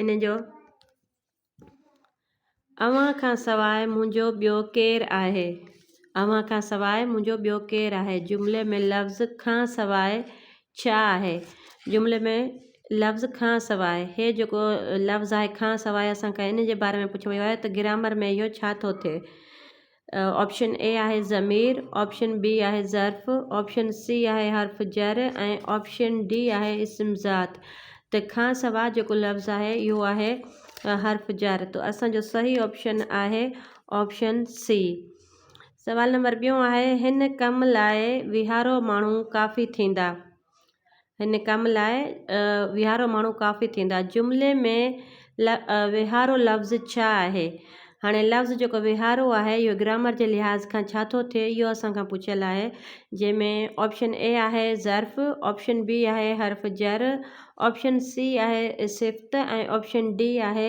ان جو اوهان کان سواء منهنجو ٻيو ڪير آهي اوهان کان سواء منهنجو ٻيو ڪير آهي جملي ۾ لفظ کان سواء ڇا آهي جملي ۾ لفظ کان سواء هي جيڪو لفظ آهي کان سواء اسان کان ان جي باري ۾ پڇيو ويو آهي ته گرامر ۾ اهو ڇا ٿو ٿئي آپشن اي آهي ضمير آپشن بي آهي ظرف آپشن سي آهي حرف جر ۽ آپشن ڊي آهي اسم ذات ته کان سوا جيڪو لفظ آهي اهو آهي حرف جر تو اسانجو صحيح آپشن آهي آپشن سي سوال نمبر ٻيون آهي هن ڪم لاء ويهارو ماڻهو ڪافي ٿيندا هن ڪم لاء ويهارو ماڻهو ڪافي ٿيندا جملي ۾ ويهارو لفظ ڇا آهي هاڻي لفظ جيڪو ويهارو آهي اهو گرامر جي لحاظ کان ڇا ٿو ٿئي اهو اسان کان پڇيل آهي جنهن ۾ آپشن اي آهي ظرف آپشن بي آهي حرف جر آپشن سي آهي صفت ۽ آپشن ڊي آهي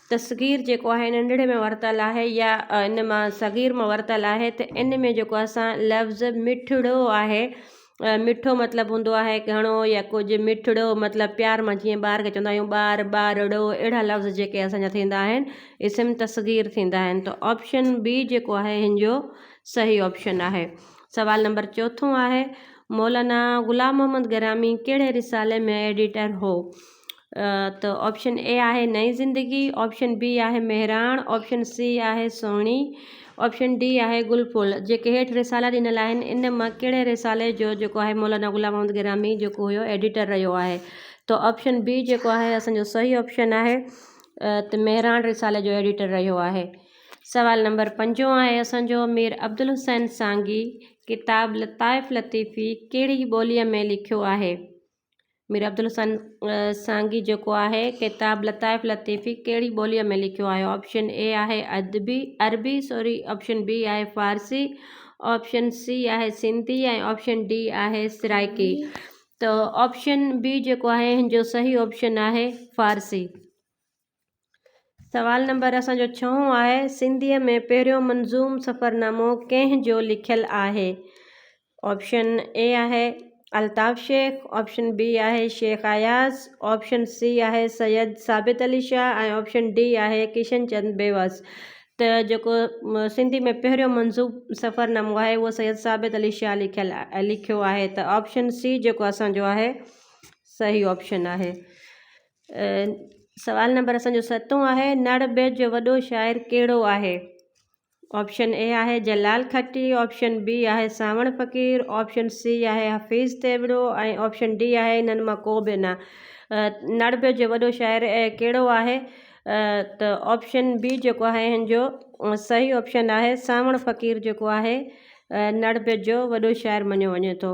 تصغير جيڪو آهي ننڍڙي ۾ ورتل آهي يا ان مان صغير مان ورتل آهي ته ان ۾ جيڪو اسان لفظ مٺڙو آهي مٺو مطلب هوندو آهي گهڻو يا ڪجهه مٺڙو مطلب پيار مان جيئن ٻار کي چوندا آهيون ٻار ٻارڙو اهڙا لفظ جيڪي اسانجا ٿيندا آهن اسم تصغير ٿيندا آهن ته آپشن بي جيڪو آهي هن جو صحيح آپشن آهي سوال نمبر چوٿون آهي مولانا غلام محمد گرامي ڪهڙي رسالي ۾ ايڊيٽر هو ته آپشن اي آهي نئين زندگي آپشن بي آهي مهراڻ آپشن سي آهي سهڻي آپشن ڊي آهي گل ڦل جيڪي هيٺ رسالا ڏنل آهن ان مان ڪهڙي رسالي جو جيڪو آهي مولانا غلام محمد گرامي جيڪو هيو ايڊيٽر رهيو آهي ته آپشن بي جيڪو آهي اسانجو صحيح آپشن آهي ته مهراڻ رسالي جو ايڊيٽر رهيو آهي سوال نمبر پنجو آهي اسانجو مير عبدالحسين سانگي ڪتاب لطائف لطيفي ڪهڙي ٻوليء ۾ لکيو آهي مير عبدالحسن سانگي جيڪو آهي ڪتاب لطائف لطيفي ڪهڙي ٻوليء ۾ لکيو آهي آپشن اي آهي ادبي عربي سوري آپشن بي آهي فارسي آپشن سي آهي سنڌي ۽ آپشن ڊي آهي سرائيڪي ته آپشن بي جيڪو آهي هن جو صحيح آپشن آهي فارسي سوال نمبر اسان جو ڇهون آهي سنڌيء ۾ پهريون منظوم سفرنامو ڪنهن جو لکيل آهي آپشن اي آهي الطاف شيخ آپشن بي آهي شيخ اياز آپشن سي آهي سيد ثابت علي شاهه ۽ آپشن ڊي آهي ڪشن چند بيوس ته جيڪو سنڌي ۾ پهريون منظوم سفرنامو آهي اهو سيد ثابت علي شاهه لکيل لکيو آهي ته آپشن سی جيڪو اسانجو آهي صحيح آپشن آهي سوال نمبر اسان جو ستون آهي نڙ ٻيٽ جو وڏو شاعر ڪهڙو آهي آپشن اي آهي جلال کٽي آپشن بي آهي سانوڻ فقير آپشن سي آهي حفيظ تيوڙو ۽ آپشن ڊي آهي انهن مان ڪو به نه نڙ ٻيٽ جو وڏو شاعر ڪهڙو آهي ته آپشن بي جيڪو آهي هن جو صحيح آپشن آهي سانوڻ فقير جيڪو آهي نڙ ٻيٽ جو وڏو شاعر مڃيو وڃي ٿو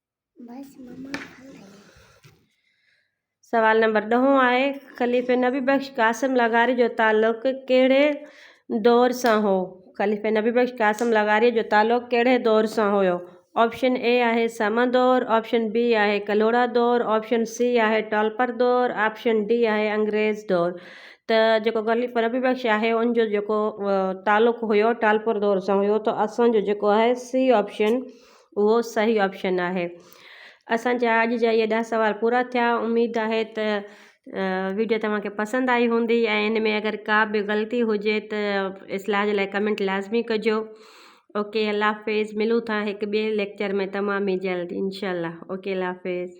سوال نمبر ڏهون آهي خليفي نبي بخش قاسم لغاري جو تعلق ڪهڙي دور سان هو خليفي نبي بخش قاسم لغاري جو تعلق ڪهڙي دور سان هيو آپشن اي آهي سمن دور آپشن بي آهي ڪلهوڙا دور آپشن سي آهي ٽالپر دور آپشن ڊي آهي انگريز دور ته جيڪو خليفي نبي بخش آهي ان جو جيڪو تعلق هيو ٽالپر دور سان هيو ته اسان جو جيڪو آهي سي آپشن اهو صحيح آپشن آهي اسان جا اڄ جا اهي ڏهه سوال پورا ٿيا اميد آهي ته ويڊيو توهان کي پسند آئي هوندي ۽ ان ۾ اگر ڪا به غلطي هجي ته اصلاح جي لاء ڪمنٽ لازمي ڪجو اوڪي الله حافظ ملون ٿا هڪ ٻئي ليڪچر ۾ تمام ئي جلد انشاء الله اوڪي الله حافظ